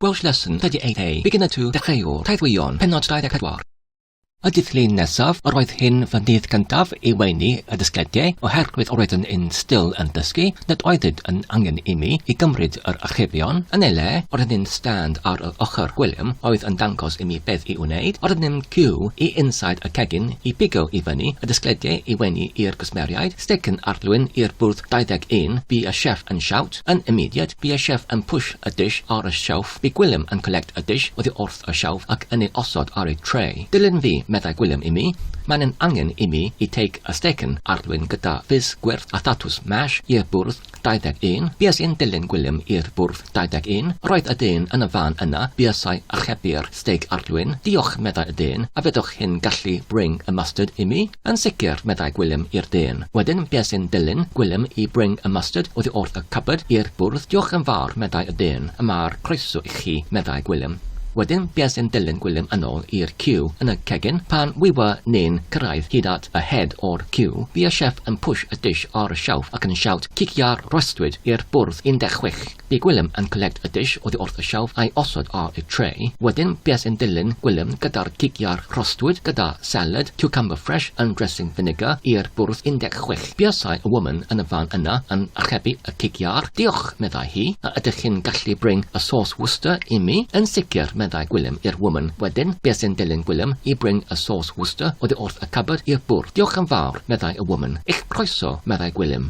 Welsh Lesson 38A Beginner 2 Dechreuwr Taith Wyon Pennod 24 Y dydd Llun nesaf, yr oedd hyn fy ndydd cyntaf i weini y dysgediau, oherwydd yr oeddwn yn still yn dysgu, nad oeddid yn angen i mi i gymryd yr archebion. Yn ei le, yr oedd un stand ar yr ochr gwilym oedd yn dangos i mi beth i wneud, yr oedd un cyw i inside y cegin i bigo i fyny y dysgediau i weini i'r gwsmeriaid, steicyn arddwyn i'r bwrdd 21 bu y chef yn shout, Yn immediate, bu y chef yn push y dish ar y shelf, bu Gwilym yn collect y dish oddi wrth y shelf ac yn ei osod ar ei tray. Dilyn fi, meddai Gwilym i mi. Mae'n yn angen i mi i take a stecyn arddwyn gyda fizz gwyrdd a thatws mash i'r bwrdd 21. Bues i'n dilyn Gwilym i'r bwrdd 21. Roedd y dyn yn y fan yna, buasai archebu'r steig arddwyn. Diolch, meddai y dyn, a fedrwch hyn gallu bring y mustard i mi? Yn sicr, meddai Gwilym i'r dyn. Wedyn, be' sy'n dilyn? Gwilym i Bring a Mustard oddi wrth y cupboard i'r bwrdd. Diolch yn fawr, meddai y dyn. Y mae'r croeso i chi, meddai Gwilym. Wedyn, be' sy'n dilyn Gwilym yn ôl i'r ciw. Yn y cegin, pan wyfa ni'n cyrraedd hyd at y head o'r ciw, fi a Chef yn push y dish ar y shelf ac yn shout, Cicia'r rhostud i'r bwrdd 16! Bu Gwilym yn collect y dish oddi wrth y shelf a'i osod ar y tray. Wedyn bues yn dilyn Gwilym gyda'r cig iâr crostwyd gyda salad, cucumber fresh and dressing vinegar i'r bwrdd 16. Buasai y woman yn y fan yna yn archebu y cig iâr. Diolch, meddai hi, a ydych chi'n gallu bring y sauce Worcester i mi? Yn sicr, meddai Gwilym i'r woman. Wedyn bues yn dilyn Gwilym i bring y sauce Worcester oddi wrth y cupboard i'r bwrdd. Diolch yn fawr, meddai y woman. Eich croeso, meddai Gwilym.